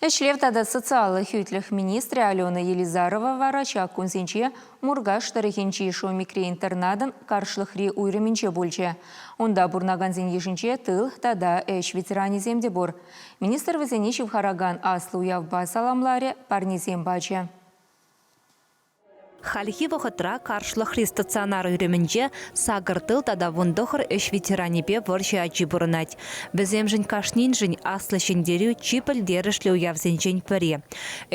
Ӗҫлев тата социаллӑ хӳтлӗх министрӗ Алена Елизарова вара ҫак кунсенче Муркаш тӑрӑхӗнчи Шомикри-интернатӑн каршлӑхри уйрӑмӗнче пулчӗ. Унта пурӑнакансен йышӗнче тыл тата ӗҫ ветеранӗсем те пур. Министр вӗсене ҫывхаракан аслӑ уявпа саламларӗ, парнесем пачӗ. Хальхи вӑхӑтра Каршлӑхри стационар уйрӑмӗнче сакӑр тыл тата вун тӑхӑр ӗҫ ветеранӗпе вӑрҫӑ ачи пурӑнать. Вӗсемшӗн кашниншӗн Аслӑ Ҫӗнтерӳ чи пӗлтерӗшлӗ уявсенчен пӗри.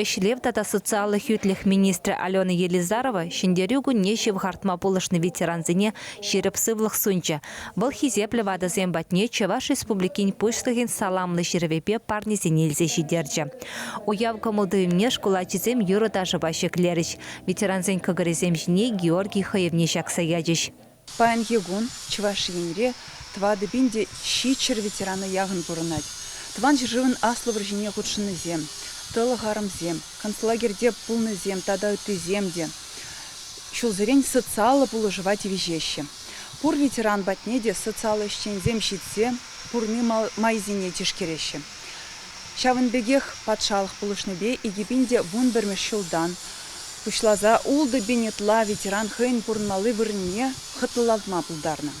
Ӗҫлев тата социаллӑ хӳтлӗх министрӗ Алена Елизарова Ҫӗнтерӳ кунне ҫывхартма пулӑшнӑ ветерансене ҫирӗп сывлӑх сунчӗ, Вӑл хисеплӗ ватӑсем патне Чӑваш Республикин Пуҫлӑхӗн саламлӑ ҫырӑвӗпе парнесене илсе ҫитерчӗ. Уяв кӑмӑл-туйӑмне шкул ачисем юрӑ-ташӑпа ҫӗклерӗҫ, ветерансен кӑкӑрӗсем ҫине Георгий хӑйӑвне ҫакса ячӗҫ. Паянхи кун Чӑваш Енре тӑватӑ пин те ҫичҫӗр ветерана яхӑн пурӑнать. Тӑван ҫӗршывӑн Аслӑ вӑрҫине хутшӑннисем, тӑлӑх арӑмсем, концлагерьте пулнисем тата ыттисем те ҫулсерен социаллӑ пулӑшӑва тивӗҫеҫҫӗ. Пур ветеран патне те социаллӑ ӗҫченсем ҫитсе курни майсене тишкереҫҫӗ. Ҫавӑн пекех патшалӑх пулӑшнипе икӗ пин те вун пӗрмӗш ҫултан пуҫласа ултӑ пин ытла ветеран хӑйӗн пурӑнмалли вырӑнне хӑтлӑлатма пултарнӑ.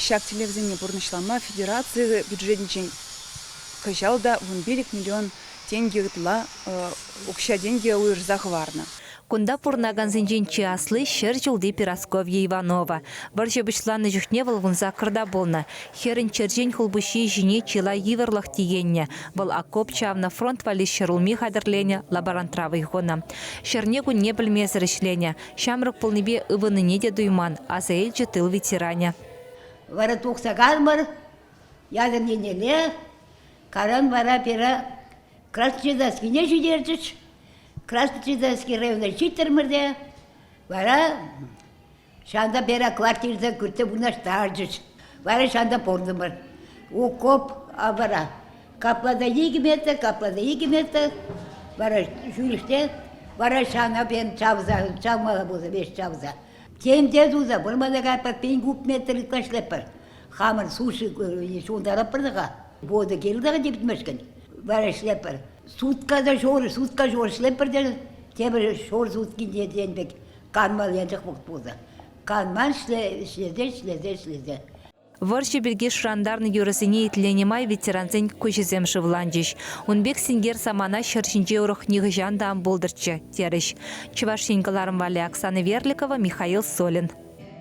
Ҫак тӗллевсене пурнӑҫлама федераци бюджетӗнчен кӑҫал та вун пилӗк миллион тенкӗ ытла укҫа-тенкӗ уйӑрса хӑварнӑ. Кунта пурӑнакансенчен чи асли, ҫӗр ҫулти Перасковья Иванова. Вӑрҫӑ пуҫланнӑ чухне вӑл кун саккӑрта пулнӑ. Хӗрӗн черчен хулпуҫҫийӗ ҫине чылай йывӑрлӑх тиеннӗ. Вӑл окоп чавнӑ, фронт валли ҫӗрулми хатӗрленӗ, лаборантра вӑй хунӑ. Ҫӗрне-кунне пӗлмесӗр ӗҫленӗ. Ҫамрӑк пулнипе ывӑннине те туйман, аса илчӗ тыл ветеранӗ. Вара тухса калмӑр, ятӑр еннелле, каран вара Пера Красночетайскине ҫитерчӗҫ. Красночетайский районне ҫиттӗмӗр те вара ҫанта пера квартирсе кӳрте вырнаҫтарчӗҫ. Вара ҫанта пуртӑмӑр. Укоп вара капла та икӗ метр, капла та икӗ метр. Вара ҫӳлӗште вара ҫана пен чавса, чавмалла пулса веҫ чавса. Тем те туса вырмана кайпа пин куб метр ытлашлатпӑр. Хамӑн суши ҫунтаратпӑр-тӑка. Вода килтӗр типмешкӗн. Вара ӗҫлеппӗр. Сутка та ҫор, сутка ҫор ӗҫлеппӗр те тепӗр ҫор суткинче тен пек канмал ячах пултӑр. Канман ӗҫле, ӗҫлесе, ӗҫлесе, ӗҫлесе. Вӑрҫӑ пирки шӑрантарнӑ юрӑсене итленӗ май ветерансен куҫӗсем шывланчӗҫ. Ун пек синкер самана ҫӗр ҫинче урӑх нихӑҫан та ан пултӑрччӗ, терӗҫ Чӑваш Ен кӑларӑм валли Оксана Верликова, Михаил Солин.